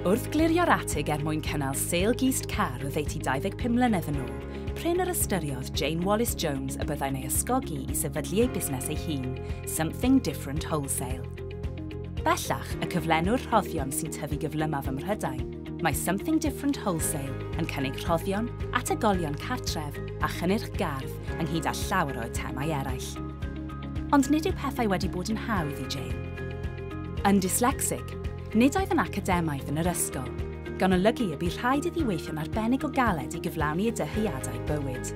Wrth glirio'r atig er mwyn cynnal sale gist car oddeutu 25 mlynedd yn ôl, prin yr ystyriodd Jane Wallace Jones y byddai'n ei ysgogi i sefydlu ei busnes ei hun, Something Different Wholesale. Bellach, y cyflenwr rhoddion sy'n tyfu gyflymaf ym Mhrydain, mae Something Different Wholesale yn cynnig rhoddion, ategolion cartref a chynnyrch gardd ynghyd â llawer o eitemau eraill. Ond nid yw pethau wedi bod yn hawdd i Jane. Yn dyslecsig, Nid oedd yn academaidd yn yr ysgol, gan olygu y bu rhaid iddi weithio'n arbennig o galed i gyflawni ei dyheadau bywyd.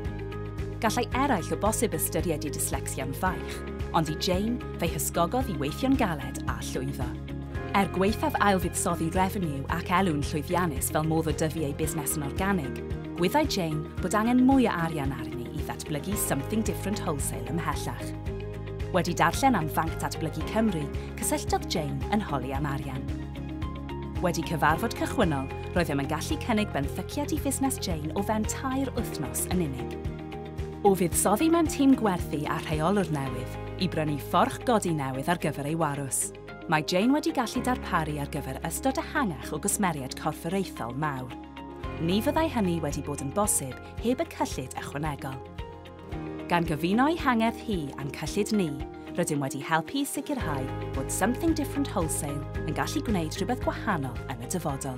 Gallai eraill o bosib ystyried dyslecsia yn faich, ond i Jane, fe'i hysgogodd i weithio'n galed a llwyddo. Er gwaethaf ailfuddsoddi refeniw ac elw'n llwyddiannus fel modd o dyfu ei busnes yn organig, gwyddai Jane bod angen mwy o arian arni i ddatblygu Something Different Wholesale ymhellach. Wedi darllen am Fanc Datblygu Cymru, Cysylltodd Jane yn holi am arian. Wedi cyfarfod cychwynnol, roeddem yn gallu cynnig benthyciad i fusnes Jane o fewn tair wythnos yn unig. O fuddsoddi mewn tîm gwerthu a rheolwr newydd, i brynu fforch godi newydd ar gyfer ei warws, mae Jane wedi gallu darparu ar gyfer ystod ehangach o gwsmeriaid corfforaethol mawr. Ni fyddai hynny wedi bod yn bosib heb y cyllid ychwanegol. Gan gyfuno'i hangerdd hi a'n cyllid ni, rydym wedi helpu i sicrhau bod Something Different Wholesale yn gallu gwneud rhywbeth gwahanol yn y dyfodol.